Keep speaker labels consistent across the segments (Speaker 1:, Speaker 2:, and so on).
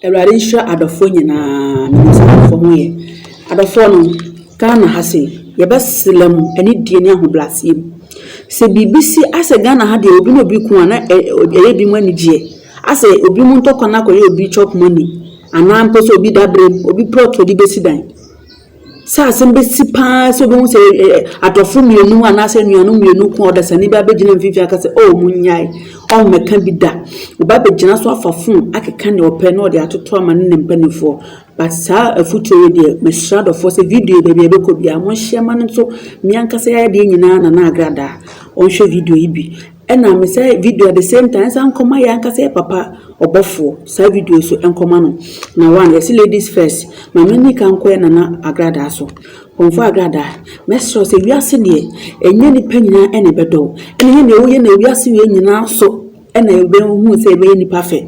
Speaker 1: Awurade nhyira adɔfoɔ nyinaa menim sɛ adɔfoɔ ho yɛ adɔfoɔ no Ghana ha se yɛbɛsela mu anidie ne ahobraseɛ mu sɛ biribi si asɛ Ghana ha deɛ obi na obi ko a na ɛyɛ bi mu anigyeɛ asɛ obi mu ntɔkwa no akɔyɛ obi chop money anaa mpo sɛ obi dabrem obi plot ɔde bɛsi dan Sɛ asɛm bɛsi pa ara sɛ wobɛhu sɛ ɛ- ɛ- adɔfo mmienu anaasɛ anuanom mmienu ko a ɔdasani bi abɛgyina mfimfini aka sɛ oh monnyae ɔmmɛka bi da ɔba bɛgyina so afa fon akeka nea ɔpɛ na ɔde atoto ama ne ne mpanimfoɔ but saa afotuo wei deɛ mesrɛ adɔfoɔ sɛ video yi baabi a ɛbɛkɔ biara monhyɛ ma no nso me ankasa yɛ adeɛ nyinaa na na agradaa ɔnhwɛ video yi bi Ɛna me sɛ video at the same time ɛsan nkɔma yɛ ankasa yɛ papa ɔbɔfoɔ saa video so nkɔma no na one yɛsi ladies first maame ni ka nkɔ yɛ nana agradaa so kɔnfɔ agradaa mɛsrɛ sɛ wiase deɛ ɛnyɛ nipa nyinaa ɛna ɛbɛdɔ ɛna yɛ na ɛwɔ yɛ na wiase yɛ nyinaa so ɛna ɛbɛhu sɛ ɛbɛyɛ nipa fɛ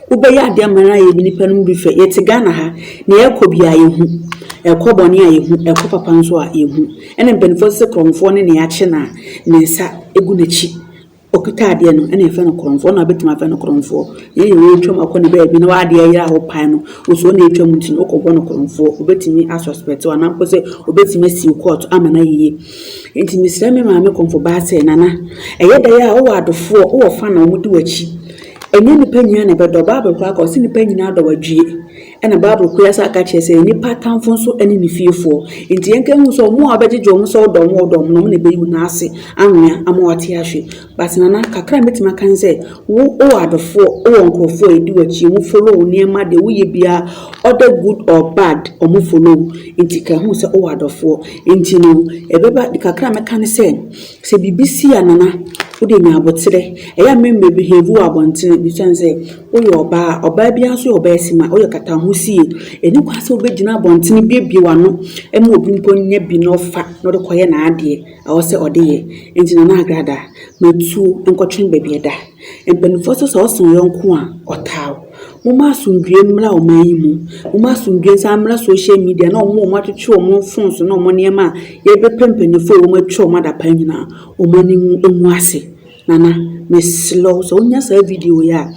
Speaker 1: wobɛyɛ adeɛ ama na yɛ nipa no mu bi fɛ yɛte Ghana ha na yɛkɔ bi a yɛhu ɛkɔ bɔne a yɛhu ɛkɔ papa nso a yɛhu Ɛna mpanyimfoɔ no se korɔmfoɔ ne nea akye no a ne nsa gu n'akyi, ɔkuta adeɛ no, ɛna yɛfrɛ no korɔmfoɔ, na wobɛtumi afrɛ no korɔmfoɔ. Ɛnyɛ deɛ wɔretwam akɔ ne baabi na w'adeɛ ayera a wopae no, wosuo na ɛretwam nti no wokɔbɔ no korɔmfoɔ. Wobɛtumi asɔspɛtew anaa mpo sɛ wobɛtumi asiw kɔɔto ama no ayeye. Nti mesrɛ me maame kɔmfobaa sɛ, Nana, ɛyɛ dɛ a wowɔ adɔfoɔ, wowɔ fa na wɔde w'akyi. Ɛnyɛ nnipa nyinaa na ɛbɛdɔ. Bible koraa ka, ɔse nnipa nyinaa dɔ wadwie. Ɛna Bible kura sa ka kyerɛ sɛ nipa atamfo nso ne ne fiefoɔ. Nti yɛn ka hu sɛ ɔmo a ɔbɛgyegye ɔmo sɛ ɔdɔ ɔmo ɔdɔ ɔmo na ɔmo na ɛbɛyi wɔn ase anwea ama wɔate ahwe. But nana kakra mɛtumi aka ne sɛ wo wɔ adɔfoɔ wɔ nkurɔfoɔ a ɛdi w'akyi ɔmo follow wo nneɛma deɛ woyɛ biara ɔdɛ good or bad ɔmo follow wo nti ka hu sɛ wowɔ adɔfoɔ. Nti no ɛbɛba kakra mɛka ne sɛ sɛ biribi si a nana wode nya aboterɛ ɛyɛ a memmɛ behave wɔ abɔntene besiane sɛ Woyɛ ɔbaa a, ɔbaa biara nso yɛ ɔbaa simma. Woyɛ ɔkataho sie. Ɛnni kwan sɛ wobɛgyina abɔntene buebue w'ano ma obi mpo nya bi na ɔfa na ɔde kɔyɛ n'adeɛ a ɛwɔ sɛ ɔde yɛ. Enti Nana Agradaa, ma tuo nkɔtwe baabi ɛda. Mpanimfoɔ nso sɛ wɔse wo yɔnko a, ɔtaa wo. Momma asomdwoeɛ mmra ɔman yi mu. Momma asomdwoeɛ nsan mmra social media ne wɔn a wɔatwetwe wɔn mfon so ne wɔn nneɛma a yɛrebɛpɛ mpanimfoɔ a wɔatwa wɔn adapaa nyinaa, wɔn ani nwu ase. Nana, mesrɛ wo sɛ wonya saa video yi a,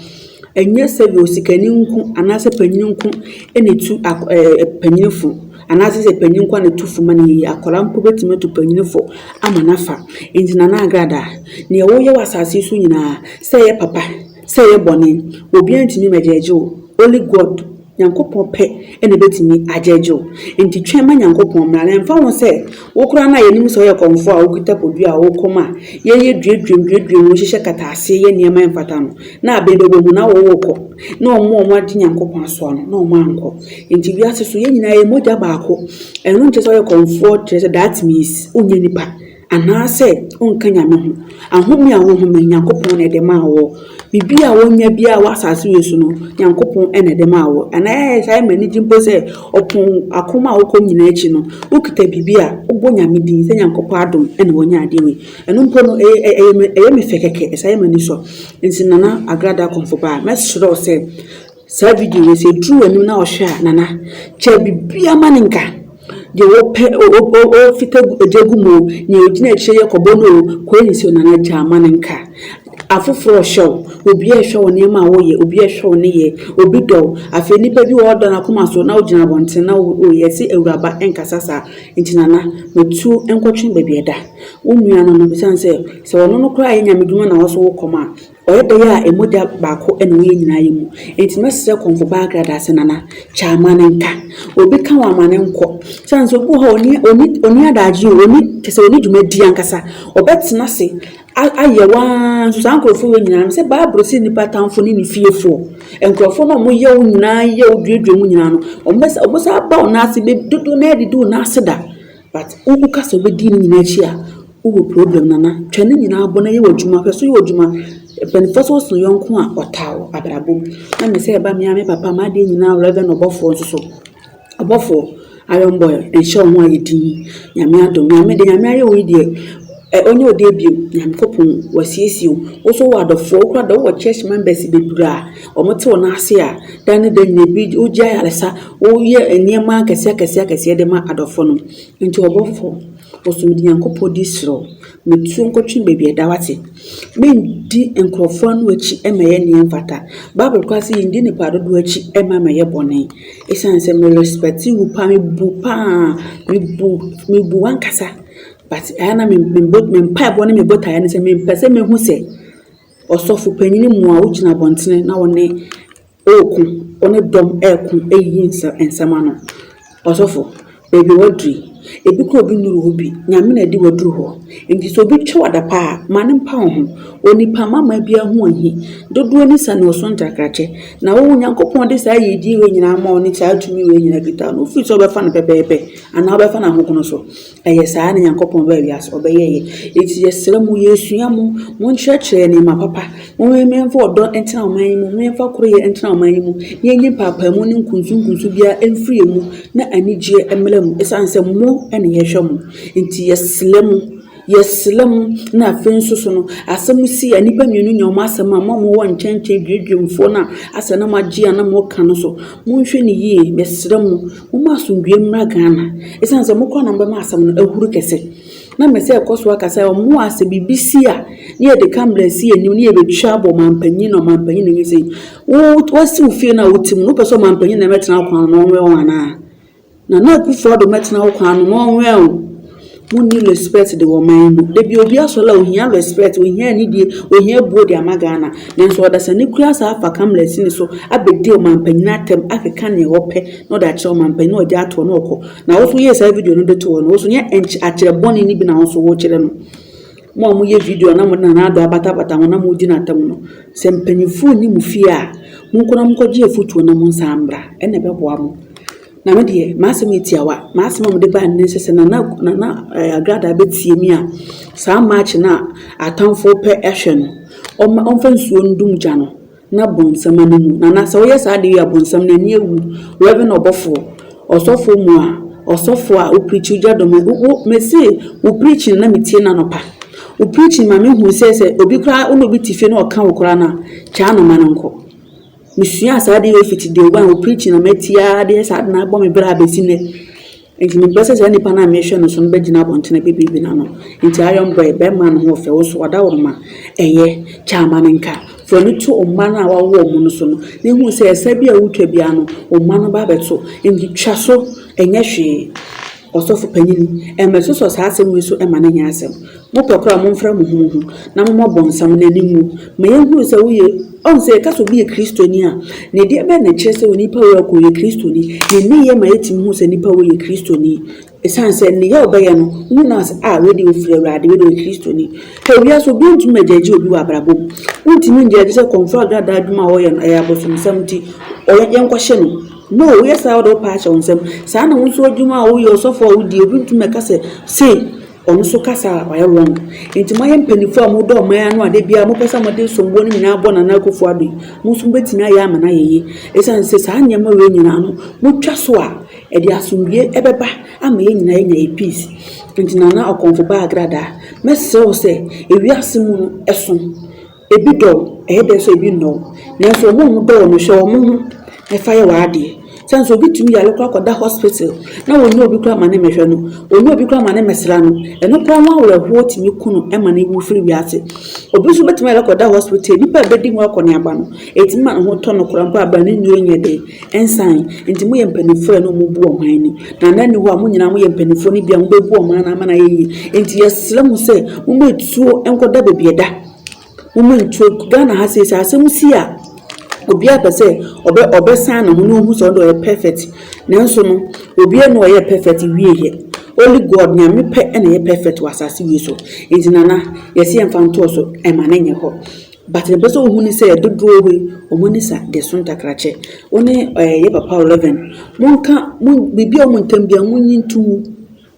Speaker 1: ɛnyɛ sɛ deɛ osikani nko anaasɛ panyin nko na etu ak ɛɛ panyin fo anaasɛ sɛ panyin nko na etu fo ma no yiye. Akwadaa mpo betumi atu panyin fo ama no afa. Enti Nana Agradaa, nea woyɛ wɔ asase so nyinaa, sɛ ɛyɛ papa, sɛ ɛyɛ bɔne, obiara ntumi mmɛgyeɛgye wo, only God. Nyankopɔn pɛ na ebetumi agyegye wo. Enti twɛn ma Nyankopɔn mmra, na ɛmfa ho sɛ wo koraa no a yɛnim sɛ woyɛ kɔmfoɔ a wokita bodua a wokɔ mu a yɛyɛ duaduam duaduam mu hyehyɛ kataase yɛ nneɛma a ɛmfata no, na abɛn bɛbɔ mu na worekɔ, na wɔn a wɔagye Nyankopɔn asoa no, na wɔankɔ. Enti wiase so, yɛn nyinaa yɛyɛ mogya baako. Ɛno nkyerɛ sɛ woyɛ kɔmfoɔ, kyerɛ sɛ that means wonyɛ nipa. Anaasɛ wonka Nyame ho. Ahome a wohome, Nyankopɔn na ɛde maa woɔ. Biribi a wonya biara wɔ asaase wei so no, Nyankopɔn na ɛde maa woɔ. Anaa ɛyɛ saa a ɛma anigye mpo sɛ, ɔpon ako a wokɔ nyinaa akyi no, wokita biribi a, wobɔ Nyame din sɛ Nyankopɔn adom na woanya adeɛ wei. Ɛno mpo no, ɛyɛ me fɛ kɛkɛ, ɛsan yɛ m'ani sɔ. Nti Nana Agrada Kɔmfo Baa, mɛsrɛ wo sɛ, Saa video wei sɛ duru w'anim na ɔhwɛ a nana kyɛ bibia ma ne nka deɛ wɔpɛ ɔfita gya gu mu nea ɔgyina akyire yɛ kɔbɔ no o kɔɛ ne sɛ nana gya ma ne nka afoforɔ ɔhwɛ wo obi ɛhwɛ wo nneɛma a woyɛ obi ɛhwɛ wo ne yɛ obi dɔ wo afei nnipa bi wɔ ɔdɔ no akoma so na wogyina abɔnten na woyɛ ɛse awuraba ɛnkasa saa nti nana matuo nkɔtwe baabi ɛda wo nua no no bisane sɛ sɛ ɔno no koraa yɛ nyame dwuma na wɔso wo kɔm a Ɔyɛ da yi a ɛmu da baako na wo yɛ nyinaa yɛ mu. Enti mɛsrɛ kɔmfo baa Agrada sɛ Nana, kyɛ amane nka. Obi ka wo amane nkɔ. Sane sɛ obi wɔ hɔ a ɔnni, ɔnni, ɔnni adagye o, ɔnni, kyɛ sɛ ɔnni dwumadie ankasa. Ɔbɛtena ase a, ayɛ wo ara nso. Saa nkorɔfoɔ wei nyinaa, mesɛ Bible se nnipa atamfoɔ ne ne fiefoɔ. Nkorɔfoɔ no a wɔyɛ wo nyinaa, yɛ wo, duadua mu nyinaa no, wɔbɛsa, wɔbɛsa aba wo nan ase, bɛ, dodoɔ no ara didi wo nan ase da. But wo wo ka sɛ wobɛdi ne nyinaa akyi a wo wɔ problem nana twa ne nyinaa bɔ na yɛ w'adwuma hwɛ so yɛ w'adwuma mpaninfoɔ sɛ wosɔ yɔnko a ɔtaa wo abrabɔ mu na me sɛ ɛba me ara me papa m'adeɛ nyinaa reverend ɔbɔfoɔ nso so ɔbɔfoɔ iron boy nhyɛ wo ho ayɛ din nyame adom nyame de nyame ayɛ wo yi deɛ ɔnyɛ ɔdeɛ bio nyame kɔpon wasiesie wo wo so wɔ adɔfoɔ wokora dɔ wɔ church members bebree a Wɔte wɔn ase a, da ne da nyinaa bi wogye ayaresa, woyɛ nneɛma akɛseɛ akɛseɛ akɛseɛ de ma adɔfoɔ no. Nti ɔbɔfoɔ, ɔsoro Nyankopɔn di serɛ wo, metuo nkɔtwe baabi a ɛda wate. Mendi nkurɔfoɔ ano akyi mmɛyɛ nea ɛmfata. Bible koraa se yɛndi nnipa dodoɔ akyi mma mmɛyɛ bɔne. Ɛsiane sɛ me respect wo paa, mebu paa, mebu, mebu w'ankasa but ɛyɛ a na me, me mpaebɔ ne me botaeɛ ne sɛ mempɛ sɛ mɛhu sɛ Ɔsɔfo panyin mu a wogyina abɔntene na wɔne ɔɔko, wɔne dɔm ɛɛko ɛyiyi nsɛ nsɛm ano. Ɔsɔfo, baabi a w'aduru yi, ebi koraa obi nnuru hɔ bi, Nyame na ɛde w'aduru hɔ. Enti sɛ obi twa w'adapaa a, ma no mpa wo ho. Onipa mma mmaa biara ho ɔnhi, dodoɔ ni sa na ɔso ntakrakyɛ. Na wo, Onyankopɔn de saa yiyedie wei nyinaa ama wo ne saa tumi wei nyinaa firi ta no, wofiri sɛ wobɛfa no pɛpɛɛpɛ anaa wobɛfa no ahogono so. Ɛyɛ saa na Nyankopɔn baa wiase, ɔbɛyɛɛ yɛn. Enti yɛsrɛ mo, yɛresua mo, monkyerɛkyerɛ yɛn nneɛma papa. Momfa ɔdɔ ntena ɔman yi mu, momfa koroyɛ ntena ɔman yi mu, na yɛnyi mpaapaemu ne nkunsunkunsu biara mfiri yɛn mu, na anigyeɛ mmra mu, ɛsiane sɛ mo na yɛhwɛ mo. Enti yɛsrɛ mo, yɛsrɛ mo, na afei nso so no, asɛm si a nnipa mmienu nya wɔn asɛm a, mo a mowɔ nkyɛnkyɛn duaduamfoɔ no a asɛ na moagye a na moreka no so, monhwɛ no yie, yɛsrɛ mo. Momma asomdwoeɛ mmra Ghana. Ɛsiane sɛ mokɔ a na mobɛma asɛm no ahuru kɛse. Na mese ɛkɔ so aka sɛ ɔmo a sɛ biribi si a ne yɛde camera si yɛn anim ne yɛbɛtwa abɔ ɔmanpanyin na ɔmanpanyin na ɛnyɛ sei. Wo wasi wo fie no a wote mu no wopɛ sɛ ɔmanpanyin na ɛmɛtena wo kwan ano na ɔnwɛn wo anaa? Nana Akufo-Addo mɛtena wo kwan ano na ɔnwɛn wo. Wonni respect de wɔ man mu. Da bi obi asɔre a ohia respect, ohia anidie, ohia abuo de ama Ghana. Nanso ɔdasani kura saa afa kamlɛs no so abɛdi ɔmanpanyin atɛm akeka nea ɔpɛ na ɔde akyerɛ ɔmanpanyin na ɔgya toɔ na ɔkɔ. Na wo nso yie saa video no de to hɔ no, wo nso nyɛ nky akyerɛ bɔne no bi na wo nso wokyerɛ no. Mo a moyɛ video na mode Nana Addo abatabata ho na modi no atɛm no, sɛ mpanyinfoɔ nni mo fie a, monkɔ na monkɔgye afutuo na monsan mmra. Ɛna ɛbɛboa mo. Na me deɛ, m'asɛm yɛ tiawa. M'asɛm a mede baeɛ no ne sɛ, sɛ Nana Nana Agradaa bɛtie me a, saa March no a atamfo repɛ ahwɛ no, ɔmma ɔmfa nsuo ndum gya no na bonsam ani nwu. Nana, sɛ woyɛ saa adeɛ wei a, bonsam no ani awu. Reverend Ɔbɔfoɔ, Ɔsɔfoɔ mu a, Ɔsɔfoɔ a, wo preachi gya dɔ me. Wo wo mese wo preachi no na metie no anɔpa. Wo preachi no ma mehunu sɛ, sɛ obi koraa, wo ne obi te fie na ɔka wo koraa no a, gyaa no ma no nkɔ. Mesuaa saa adeɛ wei fiti day one, wo preaching na mati ara deɛ saa na abɔ me bra abɛsi nnɛ. Nti mepɛ sɛ saa nipa no a mehwɛ no so no bɛgyina abɔntene bɛbibi n'ano. Nti Iron Boy, bɛrima no ho ɔfɛ, wo so wada wo mma. Ɛyɛ, kyɛ ama no nka. Fa ani to wo mma no a wawo wɔn no so no, na hu sɛ ɛsɛ bi a wotwa biara no, wo mma no ba abɛto. Nti twa so, ɛnyɛ hwee. Ɔsɔfo panyin, mmɛsosɔ saa asɛm wei so mma no nyɛ asɛm. Mopɛ koraa a, momfrɛ mo ho mo ho, na mommɔ Ɔbonsam no ani ngu, ma yɛnhunu sɛ woyɛ. Ɔn, sɛ yɛka sɛ obi yɛ Kristoni a, ne deɛ bɛn na ɛkyerɛ sɛ onipa wei ɔka ɔyɛ Kristoni? Ne nneyɛɛ ma yɛtumi hu sɛ nipa wei yɛ Kristoni. Esiane sɛ nneyɛɛ a ɔbɛyɛ no, wohu no ara sɛ, Ah, wei deɛ ɔfiri Awurade, wei deɛ ɔyɛ Kristoni. Hwɛ, wiase, obiara ntumi mmɛgyɛɛgye obi wɔ abrabɔ mu. Wontumi ngyɛɛgye sɛ kɔmfoɔ agradaa adwuma a ɔyɛ no, ɛyɛ abosomsɛm nti, ɔyɛ, yɛnkɔhye no. No, woyɛ saa a wode wo pɛ ahyɛ wo nsam. Saa na wo nso adwuma a woyɛ, ɔsɔfo a wodi, obi ntumi mmɛka sɛ sei, ɔno nso ka saa a, wayɛ wrong. Enti moayɛ mpanyimfo a modɔ ɔman ano a da biara mopɛ sɛ mode somboɔ no nyinaa bɔ Nana Akufo Addo yi, mo nso mobɛtumi ayɛ ama no ayɛ yie. Esiane sɛ saa nneɛma wei nyinaa no, motwa so a, ɛde asomdwoe ɛbɛba ama yɛn nyinaa yɛanya yɛn peace. Enti Nana Ɔkɔmfo Baa Agradaa, mɛsrɛ wo sɛ, ewiase mu no, ɛso. Ebi dɔ wo, ɛyɛ dɛ so ebi nnɔ wo. Nanso wɔn a wɔdɔ wo no, hwɛ wɔn ho na fa yɛ w'adeɛ. Sane nso, obi tumi yare koraa kɔda hospital na wɔnnya obi koraa ma ne mmɛhwɛ no, wɔnnya obi koraa ma ne mmɛsra no. Ɛno koraa ho awerɛhoɔ tumi ku no ma no wu firi wiase. Obi nso bɛtumi ayare akɔda hospital, nnipa a ɛbɛdi ho akɔneaba no, ɛtumi ma ne ho tɔ no koraa mpo a berɛ a ne nnuro nyɛ den, ɛnsan. Enti moyɛ mpanimfoɔ a ɛne wɔn bu ɔman ani. Na nna nni hɔ a mo nyinaa moyɛ mpanimfoɔ no bi a mobɛbu ɔman no ama no ayɛ yie. Enti yɛsrɛ mo sɛ mommɔ atuo nkɔda baabi a ɛda. Wo mu nto gu. Ghana ha sei sɛ asɛm si a, obiara pɛ sɛ ɔbɛ ɔbɛsan ne ho na ohu sɛ ɔno deɛ ɔyɛ perfect. Nanso no, obiara nni hɔ a ɔyɛɛ perfect wieeɛ. Only God, Nyame pɛ na ɛyɛ perfect wɔ asase wei so. Enti Nana, yɛse yɛmfa ntoɔ so mma no nyɛ hɔ. But deɛ mepɛ sɛ wohu ne sɛ, dodoɔ yi, wɔn ani sa deɛ ɛso ntakrakyɛ. Wo ne ɛɛ yɛn papa Olivine, monka, mo biribi a ɛwɔ mo ntam biara, monyi nto mu.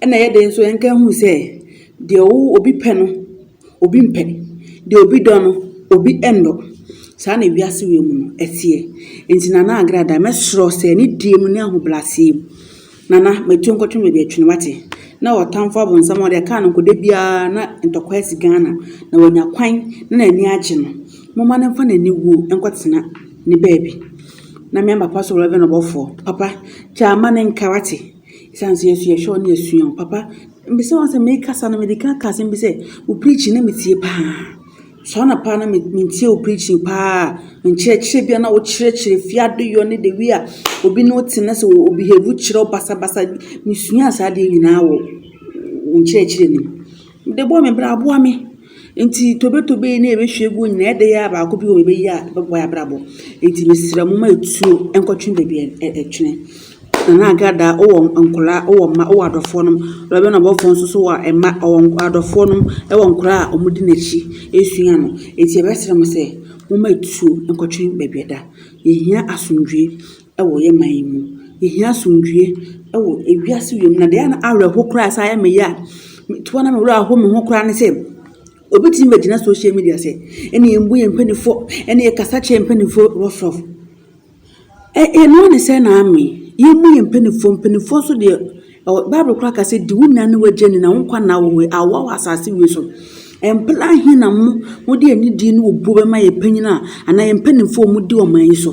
Speaker 1: Ɛna ɛyɛ den nso yɛnka hu sɛ deɛ wo obi pɛ no obi mpɛ, deɛ obi dɔ no obi nnɔ. Saa na wiase wei mu no ɛteɛ. Nti Nana Agrada mɛsrɛ sɛ ne die mu ne ahobrɛaseɛ mu Nana mɛtu nkɔtwe baabi atwene wate. Na ɔtamfo abonsam a ɔde ɛkaa no nkɔda biara na ntɔkwa asi Ghana na wanya kwan na n'ani agye no. Momma no mfa n'ani wuo nkɔtena ne baabi. Na me and papa so Rev. Ɔbɔfoɔ, papa kyɛ ama no nka wate. Esiane sɛ yɛn nso yɛhwɛ wo na yɛasua wo, papa, mbisa wo asɛm, merekasa no, mede kan kaa asɛm bi sɛ, wo preaching na metie paa. Saa na paa na mentie wo preaching paa. Nkyerɛkyerɛ bi a na wokyerɛkyerɛ fie adeyɔ ne the way a obi ne wo te na sɛ obehave kyerɛ wo basabasa bi, mesuaa saa adeɛ nyinaa wɔ wo nkyerɛkyerɛ no mu. Mede bɔɔ me bra boa me. Enti tobetobe yi ne yɛbɛhwie agu hɔ nyinaa ɛdɛyɛ a baako bi wɔ hɔ yɛbɛyi a ɛbɛboa yɛn abrabɔ. Enti mesrɛ mo ma tuo nkɔtwe baabi ɛtwene. Nana Agradaa wowɔ nkwadaa, wowɔ mma, wowɔ adɔfoɔ nom. Rev. Abɔfoɔ nso so wɔ mma, ɔwɔ nk adɔfoɔ nom, wɔ nkwadaa a wɔdi n'akyi resua no. Enti yɛbɛsrɛ mo sɛ momma tuo nkɔtwe baabi ɛda. Yɛhia asomdwoeɛ. wɔ yɛn man yi mu. Yehia asomdwoeɛ wɔ ewiase wei mu. Na deɛ ɛyɛ me awerɛho koraa a ɛsan yɛ me ya a, toa na me werɛ ahow me ho koraa ne sɛ, obi tumi bɛgyina social media sɛ ɛne yɛmmu yɛn mpanimfoɔ, ɛne yɛkasa kyerɛ yɛn mpanimfoɔ rough rough. Ɛ ɛno ara ne sɛn na ame? Yɛmmu yɛn mpanimfoɔ, mpanimfoɔ nso deɛ, ɛwɔ Bible koraa ka sɛ, di wo nua ne w'agya ni na wo nkwa nna wo ho yi, awowa wɔ asase wei so. Mpla he na mo mode anidie ne obuo bɛma yɛn mpanyin a anaa yɛn mpanimfoɔ a wɔdi ɔman yi so?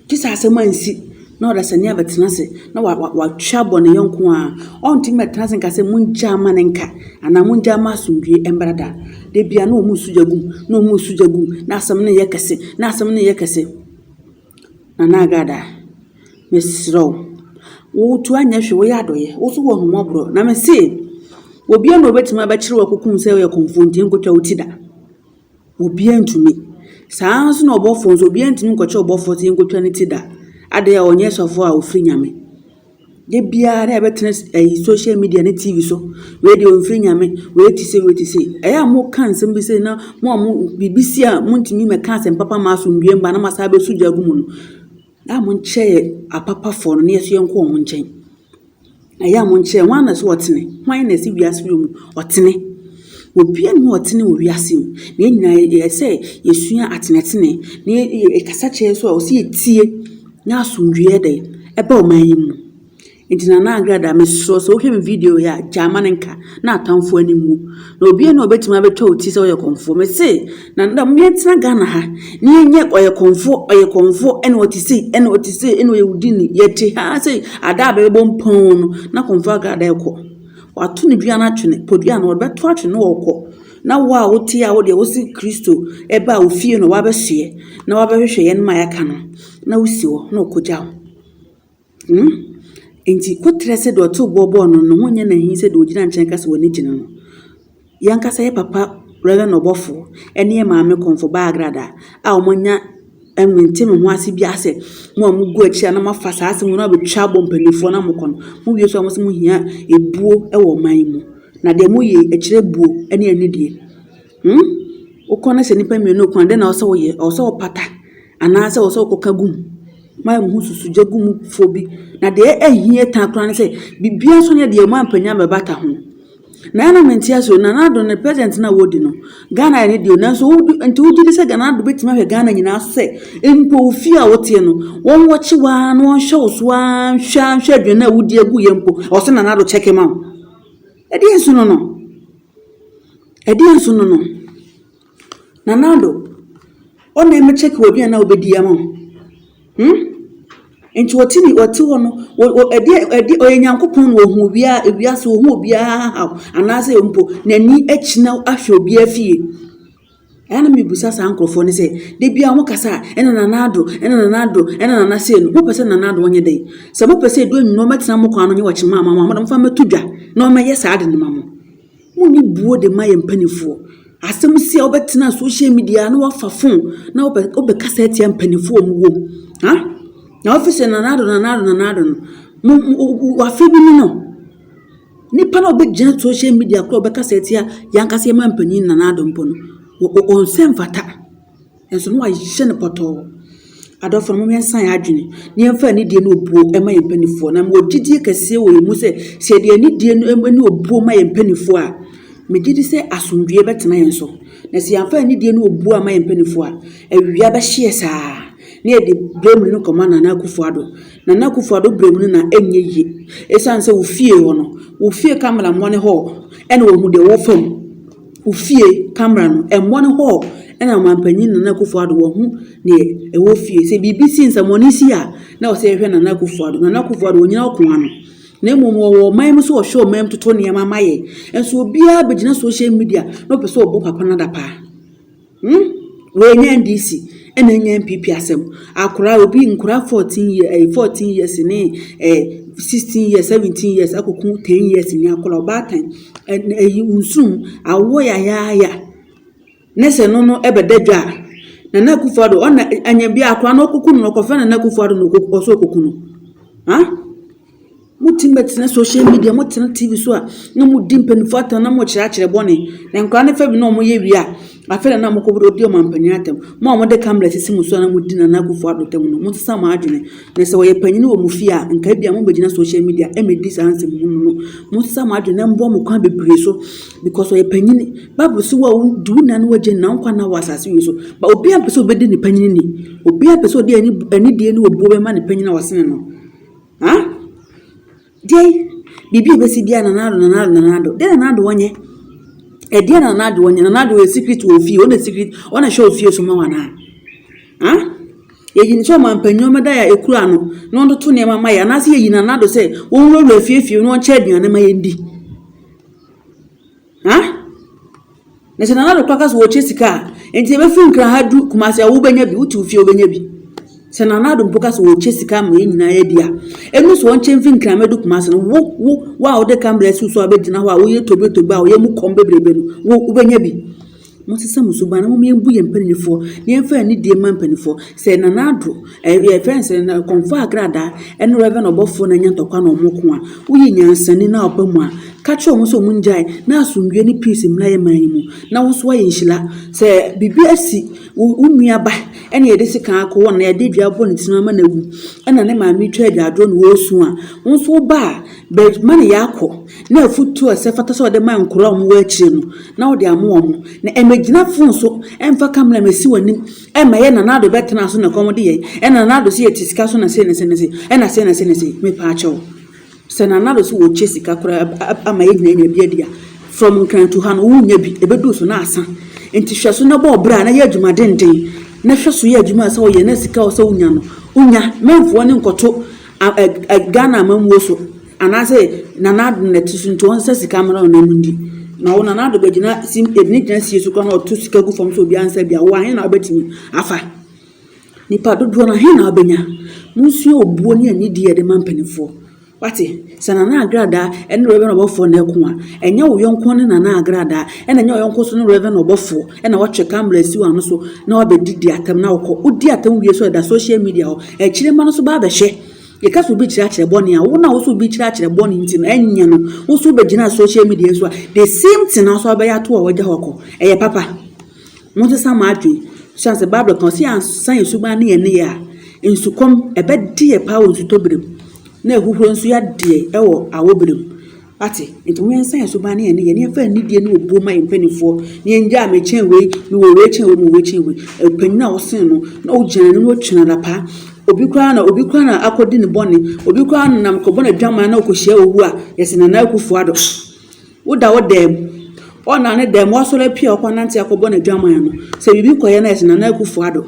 Speaker 1: Gye sɛ asɛm ansi na ɔdasani abɛtena ase na wa wa watwe abɔ ne yɔnko a, ɔntumi mmɛtena ase nka sɛ mongya mma no nka anaa mongya mma asomdwoeɛ mmra da. Da biara na wɔresu gya gu mu, na wɔresu gya gu mu, na asɛm no reyɛ kɛse, na asɛm no reyɛ kɛse. Nana Agada, mesrɛ wo, wo nso anyɛ hwee, woyɛ adɔeɛ, wo nso wɔ ahummɔborɔ. Na mese, obiara na ɔbɛtumi abɛkyere wo akɔku wo sɛ woyɛ kɔmfoɔ nti, nkɔtwa wo ti da. Obiara ntumi. Saa ara nso na ɔbɔfoɔ nso, obiara ntumi nkɔkyerɛ ɔbɔfoɔ sɛ yɛnkɔtwa ne ti da. Adɛn, ɔnyɛ sɔfoɔ a ɔfiri Nyame. Da biara na yɛbɛtena s ɛyi social media ne TV so, wei deɛ ɔmfiri Nyame, wei te sei, wei te sei. Ɛyɛ a moka nsɛm bi sei na mo a mo biribi si a montumi mmɛka asɛm papa mma asomdwoeɛ mma na moasan abɛsu gya agu mu no, Yɛ a monkyɛ apapafoɔ no na yɛso yɛnkɔ wɔn nkyɛn. Na yɛ a monkyɛ hwan na ɛsɛ ɔtene, hwan na ɛsɛ wiase wura mu ɔtene. Obiara nni hɔ a ɔtene wɔ wiase mu. Na yɛn nyinaa yɛ sɛ yɛsua atenetene. Na yɛkasa kyerɛ yɛn nso a, ɛsɛ sɛ yɛtie na asomdwoeɛ ayɛ dɛn? Ɛba ɔman yi mu. Enti Nana Agradaa, mesrɛ wo sɛ wohwɛ me video yi a, gyae ma no nka na atamfo ani nwu. Na obiara na obetumi abɛtwa wo ti sɛ ɔyɛ kɔmfoɔ. Mese, na na mo yɛntena Ghana ha na yɛnyɛ ɔyɛ kɔmfoɔ, ɔyɛ kɔmfoɔ, ɛna ɔte sei, ɛna ɔte sei, ɛna ɔyɛ wudini. Yɛte ha sɛ ada a bɛbɔ mpɔn no, na kɔmfoɔ Agradaa ɛkɔ. Wato ne dua no atwene, podua no ɔbɛto atwene na ɔkɔ. Na wo a wote a wodeɛ wosi Kristo ɛba a ofie no wabɛsoɛ na wabɛhwehwɛ yɛn ma yɛaka no na wosi hɔ na ɔkɔgya wo. No. Enti, koterɛ sɛdeɛ ɔtoo boɔ bɔɔ no no ho nyɛ no ahi sɛ deɛ ɔgyina nkyɛn ka sɛ w'ani gye no no. Yɛn ankasa yɛ papa Rev. Ɔbɔfoɔ ne yɛn maame Kɔmfo Baa Agradaa a wɔanya mente me ho ase biara sɛ mo a mogu akyiri a na moafa saa asɛm no abɛtwa abɔ mpanimfoɔ na mokɔ no, mowie so a mose mohia ebuo wɔ ɔman yi mu. Na deɛ moyɛ yi, ɛkyerɛ buo ne anidie. Hmm? Wokɔ na sɛ nnipa mmienu ko a, dɛn na ɛwɔ sɛ woyɛ? Ɛwɔ sɛ wopata anaasɛ ɛwɔ sɛ wokɔka gu mu? Ma yɛn ho susu gya gu mu fo bi. Na deɛ ɛhia tan koraa ne sɛ biribiara nso nyɛ deɛ moampanyin amɛbata ho. Na ɛna mente aseɛ o, Nana Addo ne president no a wɔdi no, Ghana ne deɛ o, nanso wodi nti wogye di sɛ Nana Addo bɛtumi ahwɛ Ghana nyinaa so sɛ mpo wo fie a woteɛ no, wɔnwɔkye wo ara na wɔnhwɛ wo so ara nhwɛ ara nhwɛ aduane a wodi agu yɛ mpo, ɛwɔ sɛ Nana Addo kyɛke ma wo. Ɛdeɛn so no no? Ɛdeɛn so no no? Nana Addo, wo na ɛmɛ kyɛke wɔ bi a na wobɛdi ama wo. Hmm? Nti wɔte ni wɔte hɔ no, ɛdeɛ ɛdeɛ ɔyɛ Nyankopɔn na wɔhu wia wiase wɔhu obiara haw anaasɛ mpo n'ani akyina ahwɛ obiara fie. Ɛa na mebisa saa nkurɔfoɔ no sɛ, da biara mo kasa a, ɛna Nana Addo, ɛna Nana Addo, ɛna Nana sei no, mopɛ sɛ Nana Addo ɔnyɛ dɛn? Sɛ mopɛ sɛ ɛdu anwummerɛ na ɔmmɛtena mo kwan ano nyɛ ɔkye maa mo a, momfa mmɛto dwa na ɔmmɛyɛ saa ade no ma mo. Monni buo de mma yɛn mpanimfoɔ. Asɛm si a wobɛtena social media na wafa phone na wobɛ wobɛkasa atia mpanimfoɔ a wɔwɔ mu. Ha? Na wafi sɛ Nana Addo, Nana Addo, Nana Addo no, mo, mo, wafe bi ne no. Nipa no a ɔbɛgyina social media koraa ɔbɛkasa atia yɛn ankasa yɛn manpanin Nana Addo mpo no, ɔnsɛ mfata. Nso no ayɛ no pɔtɔɔ. Adɔfo no, mom yɛnsan yɛn adwene na yɛmfa anidie ne obuo ma yɛn mpanimfoɔ. Na mewɔ gyidie kɛseɛ wɔ yɛn mu sɛ, sɛ yɛde anidie ne obuo ma yɛn mpanimfoɔ a, megye di sɛ asomdwoeɛ bɛtena yɛn so. Na sɛ yɛamfa anidie ne obuo ama yɛn mpanimfoɔ a, awia bɛhyeɛ saa na yɛde berɛ mu no kɔma Nana Akufo-Addo. Nana Akuffo Addo berɛ mu no na ɛnyɛ yie ɛsiane sɛ wo fie hɔ no, wo fie camera mmɔne hɔ na wɔhu deɛ wofa mu. Wo fie camera no ɛmmɔne hɔ na Ɔmanpanyin Nana Akuffo Addo wahu deɛ ɛwɔ fie. Sɛ biribi si, nsɛmmɔne si a, na ɛwɔ sɛ yɛhwɛ Nana Akuffo Addo. Nana Akuffo Addo ɔnnyina ɔko ano na mmom ɔwɔ ɔman mu sɛ ɔhwɛ ɔman mu toto nneɛma ma yɛn. Nso obiara bɛgyina social media na ɔpɛ sɛ ɔbɔ papa no adapaa. Hmm wei nyɛ NDC ɛna ɛnyɛ NPP asɛm akora obi nkora fourteen year ɛyɛ eh, fourteen years ne ɛɛ eh, sixteen years seventeen years akoko ten years ni akora ɔbaatan ɛyi nsum awɔ yayaaya ne sɛ no no ɛbɛda dwa a nana akufo ado ɔna anya bi akora na ɔkoko no ɔkɔfɛ nana akufo ado na ɔkoko ɔsɔ ɔkoko no ha. Motumi bɛtena social media, motena TV so a na modi mpanimfoɔ atɛm na mokyerɛ akyerɛ bɔne. Na nkwadaa no fa bi na wɔyɛ wie a, afei na na mokɔbɛdi ɔdi ɔmampanin atɛm. Mo a wɔde camera sisi mo so a na modi Nana Akufo Addo atɛm no, monsesa mo adwene. Na sɛ ɔyɛ panyin wɔ mo fie a, nka ebi a mobɛgyina social media mmɛdi saa nsɛm hunu no. Monsesa mo adwene na mboa mo kwan bebree so because ɔyɛ panyin. Bible se wo a wodi wo na ne w'agya nna wo nkwa nna wɔ asase wei so. But obiara mpɛ sɛ ɔbɛdi ne panyin ni. Obiara pɛ sɛ ɔde anidie ne obuo bɛma ne panyin a ɔsene no. Huh? Deɛn? Biribi a ɛbɛsi biara Nana Addo, Nana Addo, Nana Addo. Deɛ Nana Addo ɔnyɛ? Ɛdeɛ na Nana Addo ɔnyɛ? Nana Addo yɛ secret wɔ ofie, ɔna secret, ɔna hyɛ ofie so ma wɔn anaa? Huh? Yɛyi no sɛ ɔma mpanyin da a ekura no na ɔde to nneɛma ma yɛ anaasɛ yɛyi Nana Addo sɛ wɔnwurawura fie fie na ɔnkyɛ aduane ma yɛndi? Ha? Na sɛ Nana Dokwa ka sɛ wɔkyɛ sika a, nti ɛbɛfiri Nkran ha du Kumasi a wobɛnya bi, wote wo fie wobɛnya bi. Sɛ Nana Ado mpo ka sɛ wɔkyɛ sika ma yɛn nyinaa yɛdi a, ɛnu sɛ wɔnkyɛ mfiri Nkran mɛdu Kumasi no, wo, wo, wo a wode kambrɛ si so a wobɛgyina hɔ a woyɛ togbe togbe a woyɛ mu kɔm bebrebe no, wo, wobɛnya bi. Monsesa mo suban na momma yɛmmu yɛn mpanimfoɔ na yɛmfa yɛn anidie mma mpanimfoɔ. Sɛ Nana Addo, ɛɛ yɛfrɛ no sɛ na kɔmfaa kradaa ɛne Rev. Ɔbɔfoɔ na anya ntɔkwa na wɔn ko a, woyɛ nyansani na ɔba mu a, ka kyerɛ wɔn sɛ wɔn ngyae na asomdwoeɛ ne peace mmra yɛn man yi mu na wo nso woayɛ nhyira. Sɛ biribi asi wo wo nua ba ɛna yɛde sekan akɔ hɔ na yɛde dua abɔ ne ti no ama no awu ɛna ne maame retwa agyaadwoɔ na ɔresu a, wo nso wo ba a, Bɛma ne yɛ akɔ, na afotu a ɛsɛ fata sɛ ɔde ma nkoraa a wɔwɔ akyire no, na ɔde ama wɔn. Na ɛmmɛgyina fon so ɛmfa kamera a ɛsi wɔn anim ɛmma ɛyɛ Nanado bɛtenaa so na ɛkɔm de yɛn, ɛna Nanado se yɛte sika so na sei na sei na sei, ɛna sei na sei na sei. Mepaa kyɛ wo, sɛ Nanado se wɔkyɛ sika koraa ama yɛn nyinaa anya bi adi a, from Nkrantu ha no, wo nnya bi, ɛbɛduru so na asa. Nti hwɛ so na bɔ ɔbra na yɛ adwuma denden, na hwɛ so yɛ adwuma a ɛsɛ sɛ wo yɛ na sika a ɛsɛ sɛ wo nya no, wo nya. Mɛmfoɔ ne nkɔto Ghana amammuo so anaasɛ Nana Addo na ɛte so nti wɔn nsa sika mmra wɔn anim di. Na wo Nana Addo bɛgyina si ɛbɛne gyina sie so kora na ɔto sika gu fam sɛ obiara nsa bia wo ahe na wobɛtumi afa. Nipa dodoɔ no ahe na wobɛnya. Monsua obuo ne anidie yɛde ma mpanimfoɔ. Wate sɛ Nana Agradaa ɛne Reverend Ɔbɔfoɔ na ɛko a ɛnyɛ wo yɔnko ne Nana Agradaa ɛna ɛnyɛ wo yɔnko so ne Reverend Ɔbɔfoɔ ɛna watwe camera asi w'ano so na wabɛdi di atam na wokɔ. Wodi atam wie so ɛda social media hɔ. Akyire mma no nso ba bɛhwɛ. Yɛka sɛ obi kyerɛ akyerɛ bɔne a, wo na wo so obi kyerɛ akyerɛ bɔne nti no, ɛnyɛ no. Wo nso wobɛgyina social media so a, the same thing na wo nso wobɛyɛ ato a wagya hɔ kɔ. Ɛyɛ papa. Monsesa mo adwene. Siane sɛ Bible ka ɔse yɛansa yɛn suban ne yɛn nneyɛe a, nsukɔm ɛbɛde yɛ paa wɔ nsutɔberem, na ahuhuro nso yɛadeɛ wɔ awɔberem. Ate? Enti mo yɛnsan yɛn suban ne yɛn nneyɛe, na yɛmfa anidie ne obuo mma yɛn mpanimfoɔ, na yɛngyaa mekyɛn wei, mewɔ wei kyɛn wei, mewɔ wei kyɛn wei. Ɔpanyin a ɔsen no, na ɔgyina n'anim na ɔtua n'apa. Obi koraa na, obi koraa na akɔdi ne bɔne. Obi koraa na nam kɔbɔ n'adwaman na ɔkɔhyia owu a, yɛse Nana Akufo-Addo. Woda wo dan mu, ɔnna ne dan mu, wasɔre apue a ɔkɔanante akɔbɔ n'adwaman no, sɛ biribi kɔyɛ no a, yɛse Nana Akufo-Addo.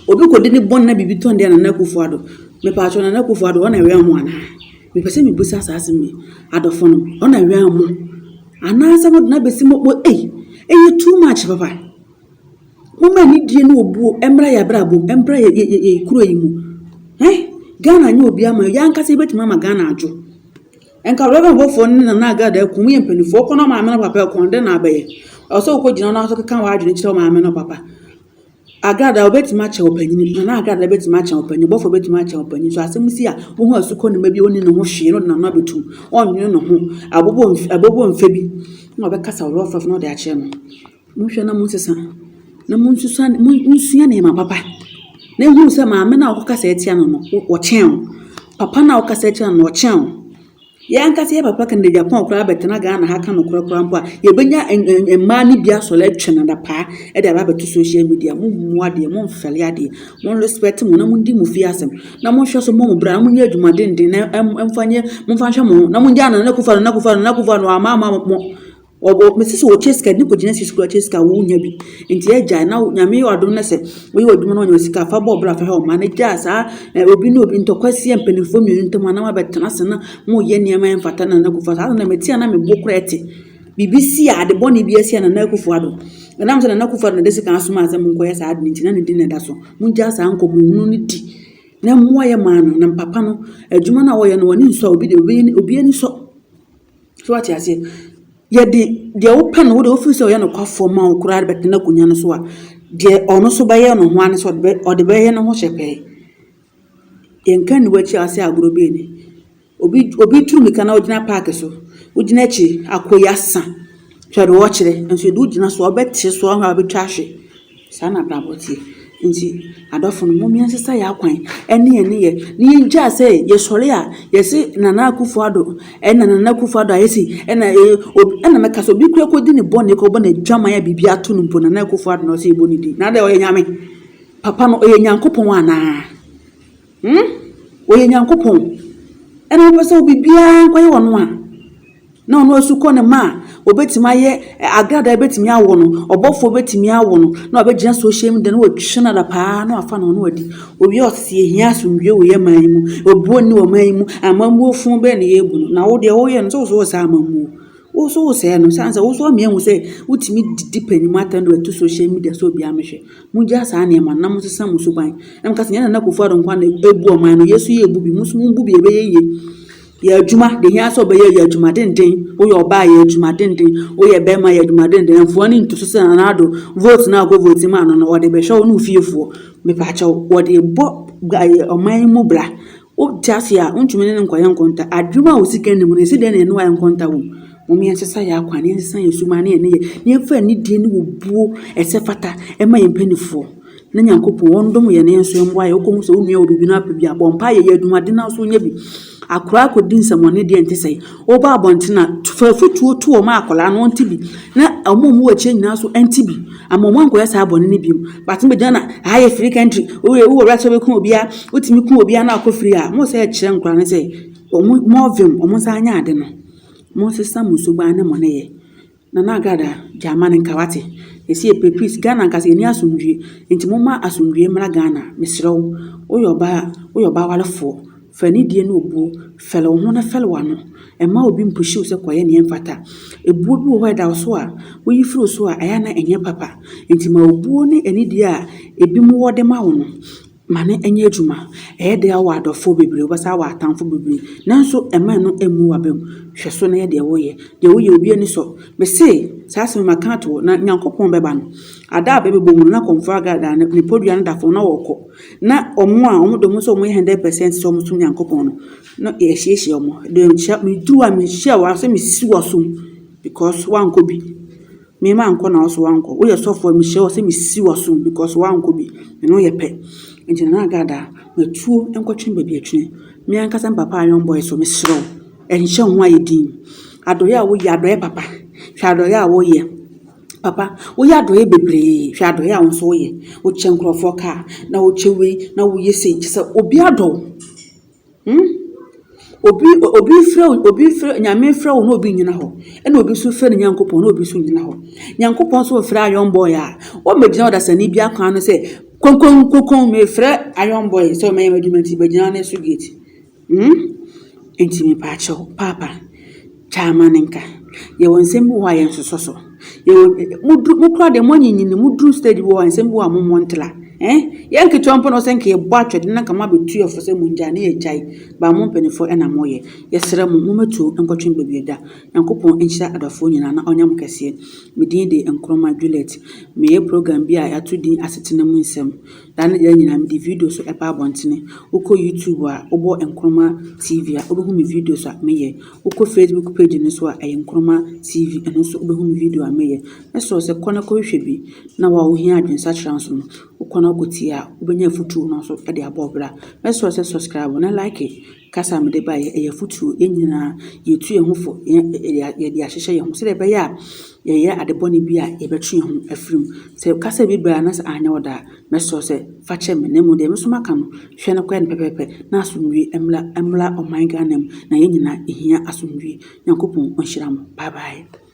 Speaker 1: Obi kɔdi ne bɔn na biribi tɔ no de a Nana Akufo Addo, mepatwɔ Nana Akufo Addo ɔna wɛn mo anaa? Mepɛ sɛ mebisa saa asɛm yi. Adɔfo no ɔna wɛn mo anaasɛ mo de no abɛsi mo bo ei ɛyɛ too much papa. Momma anidie ne obuo mmra yɛ abrabɔ mu mmra yɛ yɛ yɛ kuro yi mu. Eh Ghana nyɛ obi ama yɛn ankasa yɛbɛtumi ama Ghana adwo. Nka Reverend Bɔfoɔ ne Nana Agada akum yɛ mpanimfoɔ kɔ na maame no papa ɛkɔn dɛn na abɛyɛ? Ɛwɔ sɛ wokɔgyina no aso keka w'adwene kyerɛ wo maame no papa. Agradaa, wobetumi akyɛn ɔpanyin bi, na n'agradaa betumi akyɛn ɔpanyin, bɔfo betumi akyɛn ɔpanyin. So asɛm si a, wohu asukɔnima bi a onni ne ho hwee na ɔde n'ano abetu mu, ɔnnwene ne ho, abobɔ mf abobɔ mfe bi na ɔbɛkasa ɔyɛ ɔfɛfo na ɔde akyerɛ no. Monhwɛ na monsesa, na monsusua monsua nneɛma papa, na ehunu sɛ maame no a wokasa tia no no, ɔkyɛn wo. Papa no a wokasa tia no no, ɔkyɛn wo. Yɛn ankasa yɛ papa kɛnɛ Japan koraa bɛtena Ghana ha ka nokorɛ koraa mpo a yɛbɛnya mmaa no bi asɔre atwa no adapaa de aba abɛto social media mo mmu adeɛ mo mfɛle adeɛ mo respect mo na mo ndi mo fie asɛm na mo nhwɛ so mmɔ mo bra na mo nyɛ adwuma denden na ɛmfa nyɛ mo mfa nhwɛ mo ho na mo ngya nana kufa nana kufa nana kufa no ama ama mo Wɔwɔ mesi sɛ wɔkyɛ sika ne kɔgyina sisi kura kyɛ sika a wonya bi nti agyae na nyame yɛ wadom no sɛ woyɛ adwuma no wanya sika fa bɔ bra fa hɛ ɔma no gyaa saa eh, obi ne obi ntɔkwa si yɛ mpanimfoɔ mmienu ntam anam abɛtena ase na moyɛ nneɛma yɛ mfata na nakufa saa na mɛti a na mebo kora ɛte biribi si a ade bɔne bi asi a nana akufo ado ɛnam sɛ nana akufo ado na de sika asoma asɛ monkɔyɛ saa ade no nti na ne di na ɛda so mogyaa saa nkɔmmɔhunu no di na mmoa yɛ maa no na mpapa no adwuma no a wɔyɛ no wɔne nsɔ obi de obi ani sɔ So wate aseɛ? Yɛde deɛ wopɛ no, wode wofiri sɛ ɔyɛ nokwafoɔ ma wo koraa de bɛtena akonnwa no so a, deɛ ɔno nso bɛyɛ no ho ara ne sɛ ɔde bɛyɛ no ho hyɛ pɛɛ. Yɛnka nni w'akyi a sɛ agorɔ bi ani. Obi obi tu mmirika na ɔgyina paake so, wogyina akyiri, akɔ yi asa, hwɛ deɛ ɔkyerɛ, nso yɛde wogyina so a, wobɛte so a wobɛtwa ahwe. Saa na abrabɔ teɛ. Nti adɔfo no mom yɛnsesa yɛ akwan ɛne yɛ nneyɛ na yɛngyaa sɛ yɛsɔre a yɛse Nana Akufo Addo ɛna Nana Akufo Addo ayɛ sei ɛna ɛna mɛka sɛ obi kura kɔdi ne bɔne kɔbɔ n'adwaman a biribi ato no mpo Nana Akufo Addo na ɔsɛ yɛbɔ ne din na adɛn ɔyɛ Nyame papa no ɔyɛ Nyankopɔn anaa? Hmm? Ɔyɛ Nyankopɔn. Ɛna wopɛ sɛ obibiara nkɔyɛ ɔno a? Na ɔno asu kɔ ne ma a, obetumi ayɛ agradaa betumi awo no, ɔbɔfoɔ betumi awo no, na wabɛgyina social media na watwi no ada paa na wafa no no adi. Owie ɔte sɛ yɛhia asomdwie wɔ yɛ man yi mu, obuo nni wɔ man yi mu, amammuo fo bɛn na yɛbu no? Na wo deɛ woyɛ no sɛ wosɛ wɔ saa amammuo. Wo nso wosɛɛ no sane sɛ wo nso ɔmea hu sɛ wotumi didi panyim atɛn no ɛto social media sɛ obiara mehwɛ mogya saa nneɛma na mo sesa mo suban na mo kasa nyɛ nana kofu ado nkwa na ebu ɔman no yesu yɛ ebu bi mo nso mo bu bi ɛbɛyɛ yie yɛ adwuma de hia sɛ ɔbɛyɛ yɛ adwuma denden woyɛ ɔbaa yɛ adwuma denden woyɛ bɛrima yɛ adwuma denden mfoɔ ne nto so sɛ nana ado vote na akɔ vote ma ano no wɔde bɛhwɛ wo ne ofiefoɔ mepaakyɛw wɔde bɔ ɔman mu bra Wote ase a, wontumi ne no nkɔyɛ nkonta. Adwuma a osika nni mu no, yɛsi dɛn na yɛne no ayɛ nkonta wom? Momma yɛnsesa yɛn akwan, na yɛnsesa yɛn suban ne yɛn nneyɛe, na yɛmfa anidie ne obuo a ɛsɛ fata mma yɛn mpanimfoɔ, na Nyankopɔn, ɔndom yɛn, na yɛn nso yɛmmoa yɛn. Wokɔhu sɛ wo nua wɔ biribi na wapɛ bi a, bɔ mpaeɛ, yɛ adwumaden na wo nso nya bi. Akoraa kɔdi nsɛmmɔne deɛ ɛnte sɛe. Wɔba abɔnten a, fa afutuo to wɔn a akwadaa no ɔnte bi, na wɔn a wɔwɔ akyire nyinaa nso nte bi. Ama wɔankɔyɛ saa bɔne no bio. But mo bɛgyina na ha yɛ free country, woyɛ wowɔ right sɛ wobɛku obiara, wotumi ku obiara na wakɔ free a, mo sɛ ɛkyerɛ nkwadaa no sɛ wɔn mo vim, wɔn nsa anyɛ ade no. Monsesa mo suban ne mo nneyɛɛ. Nana Agada Gyamani Nkawate ɛsi ɛpɛ please Ghana nka sɛ yɛni asomdwie nti momma asomdwie mmra Ghana mesrɛ wo woyɛ ɔbaa woyɛ ɔbaa warefoɔ fa anidie ne obuo fɛre wo ho na fɛre w'ano mma obi mpushi wo sɛ kɔyɛ neɛ ɛmfata ɛbuo bi wɔ hɔ a ɛda wo so a woyi firi wo so a ɛyɛ a na ɛnyɛ papa nti ma obuo ne anidie a ɛbinom wɔ de ma wo no Ma no nyɛ adwuma. Ɛyɛ dɛ a wowɔ adɔfoɔ bebree, wobɛsan awɔ atamfo bebree, nanso mma ɛno mmu w'abam. Hwɛ so na yɛ deɛ woyɛ. Deɛ woyɛ obi ani sɔ. Mese, saa asɛm yi maka ato hɔ, na Nyankopɔn bɛba no. Ada a bɛbɛbɔ mu no, na Kɔmfoɔ Agar da ne podua no da fam na ɔɔkɔ. Na wɔn a wɔde wɔn sɛ wɔyɛ hundred percent sɛ wɔsom Nyankopɔn no, na yɛahyiahyia wɔn. Deɛ nkyɛ, meduru hɔ a, menhyɛɛ wo a, sɛ mesisi w'asom, because woankɔ bi. Me ma nkɔ na wo so wankɔ. Wo yɛ sɔfo a me hyia wo sɛ me si wo asom because wankɔ bi. Me ne wo yɛ pɛ. Nti Nana Agard a, ma tuo nkɔ twene baabi atwene. Me ankasa me papa Ayon Boy so me serɛ wo nhyɛ wo ho ayɛ dinn. Adɔeɛ a wo yɛ adɔeɛ papa. Hwɛ adɔeɛ a wo yɛ. Papa wo yɛ adɔeɛ bebree hwɛ adɔeɛ a wo nso wo yɛ. Wo kyɛ nkorɔfoɔ car na wo kyɛ wei na wo yɛ sei kyɛ sɛ obi adɔ wo. Hmm? Obi obi frɛ obi frɛ nyame frɛ wo na obi nyina hɔ. Ɛna obi nso frɛ ne Nyankopɔn na obi nso nyina hɔ. Nyankopɔn nso frɛ ayɔn boy a. Wɔmmɛgyina ɔdasani bi akwan no sɛ konkonkokon mefrɛ ayɔn boy sɛ ɔmɛyɛ m'adwuma nti bɛgyina ne so gate. Hmm? Nti mepaakyɛw paapa. Gyaa ma no nka. Yɛwɔ nsɛm bi wɔ hɔ a yɛnsosɔ so. Yɛwɔ, moduru, mo koraa deɛ moanyinyin, moduru stage bi wɔ hɔ a nsɛm bi wɔ hɔ a mommɔ ntra. Ɛn? Yɛn nketewa mpo na ɔsɛ nka yɛbɔ atwɛde na nka moabɛtu yɛn fo sɛ mongyae na yɛagyae, but mo mpaninfoɔ ɛna moyɛ. Yɛsrɛ mo, mommɛtuo nkɔtwe baabi ɛda. Nyankopɔn nhyira adɔfoɔ nyinaa na ɔnyɛ mo kɛseɛ. Me din de Nkrumah Juliet. Meyɛ program bi a yɛato din Asetena mu Nsɛm. Daa ne daa nyinaa mede video nso ɛba abɔntene. Wokɔ YouTube a, wobɔ Nkrumah TV a, wobɛhu me videos a meyɛ. Wokɔ facebook page no so a ɛyɛ nkroma TV ɛno nso wobɛhu me video a meyɛ ɛsɛ sɛ kɔ na kɔhwehwɛ bi na wa wohia adwensakyera nso no wokɔ na wokɔtie a wobɛnya afutuo no nso de abɔ ɔbra ɛsɛ sɛ subscribe na like kasa a mede baeɛ ɛyɛ afutuo yɛn nyinaa yɛtu yɛn ho fo yɛde ahyehyɛ yɛn ho sɛdeɛ ɛbɛyɛ a yɛyɛ ade bɔne bi a yɛbɛtwe yɛn ho afiri mu sɛ kasa bi baa na sɛ anyɛ ɔda a Mɛsrɛ sɛ fa kyɛ me, na mmom deɛ me nso maka no, hwɛ na kɔyɛ no pɛpɛɛpɛ na asomdwie mmra mmra ɔman Ghana mu, na yɛn nyinaa yɛhia asomdwie. Nyankopɔn ɔnhyira mo. Bye bye.